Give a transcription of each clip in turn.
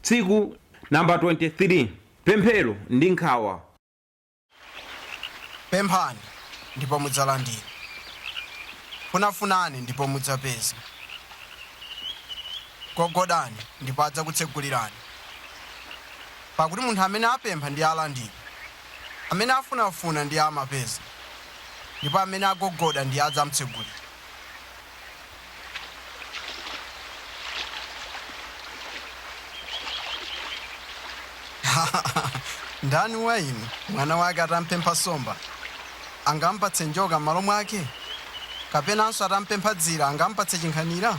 Tsiku Namba 23, Pemphero ndi nkhawa. Pemphani, ndipo mudzalandira. Funafunani, ndipo mudzapeza. Gogodani, ndipo adzakutsegulirani. Pakuti munthu amene apempha ndiye alandira, amene afunafuna ndiye amapeza, ndipo amene agogoda ndiye adzamtsegulira. ndani wa inu mwana wake atampempha nsomba angamupatse njoka m'malo mwake kapenanso atamupempha dzira angamupatse chinkhanira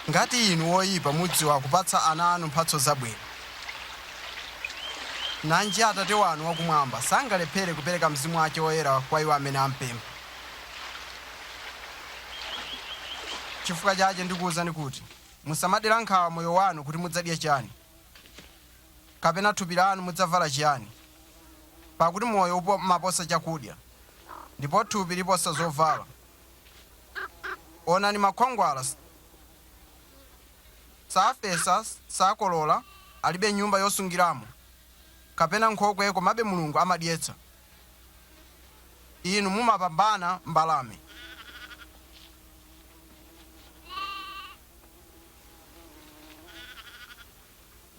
ngati inu woyipa mudziwa kupatsa ana anu mphatso zabwino Nanji Atate wanu wa Kumwamba, sangalephere kupereka Mzimu wache Woyera kwa iwo amene ampempha. Chifukwa chache ndikuuzani kuti, musamadera nkhawa moyo wanu kuti mudzadya chiyani, kapena thupi lanu mudzavala chiyani. Pakuti moyo umaposa chakudya, ndipo thupi liposa zovala. Onani makhwangwala, safesa, sakolola, alibe nyumba yosungiramo, kapena nkhokwe, komabe Mulungu amadyetsa inu, mumapambana mbalame.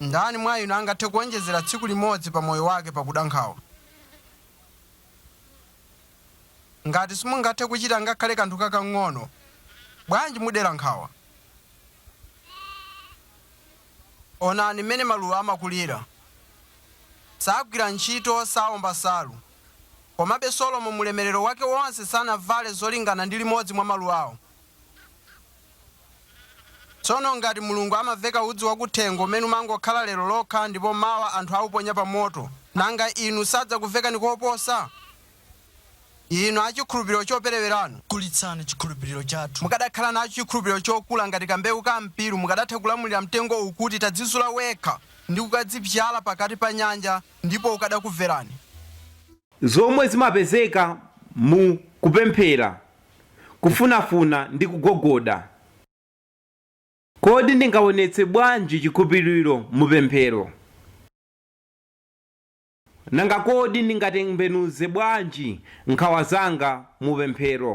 Ndani mwa inu angathe kuwonjezera tsiku limodzi pa moyo wake pakuda nkhawa? Ngati simungathe kuchita ngakhale kanthu kakang'ono, bwanji mudera nkhawa? Onani mmene maluwa amakulira. Sagwira ntchito, sawomba nsalu. Komabe Solomo mu ulemerero wake wonse sanavale zolingana ndi limodzi mwa maluwawo. Tsono ngati Mulungu amaveka udzu wakuthengo umene umangokhala lero lokha ndipo mawa anthu awuponya pa moto, nanga inu sadzakuvekani koposa? inu a chikhulupiriro chopereweranu. Kulitsani chikhulupiriro chathu. Mukadakhala nacho chikhulupiriro chokula ngati kambewu ka mpiru, mukadatha kulamulira mtengo uwu kuti, Tadzizula wekha, ndi kukadzibzyala pakati pa nyanja, ndipo ukadakumverani. Zomwe zimapezeka mu kupemphera, kufunafuna ndi kugogoda Kodi ndingawonetse bwanji chikhulupiriro mu pemphero? Nanga kodi ndingatembenuze bwanji nkhawa zanga mu pemphero?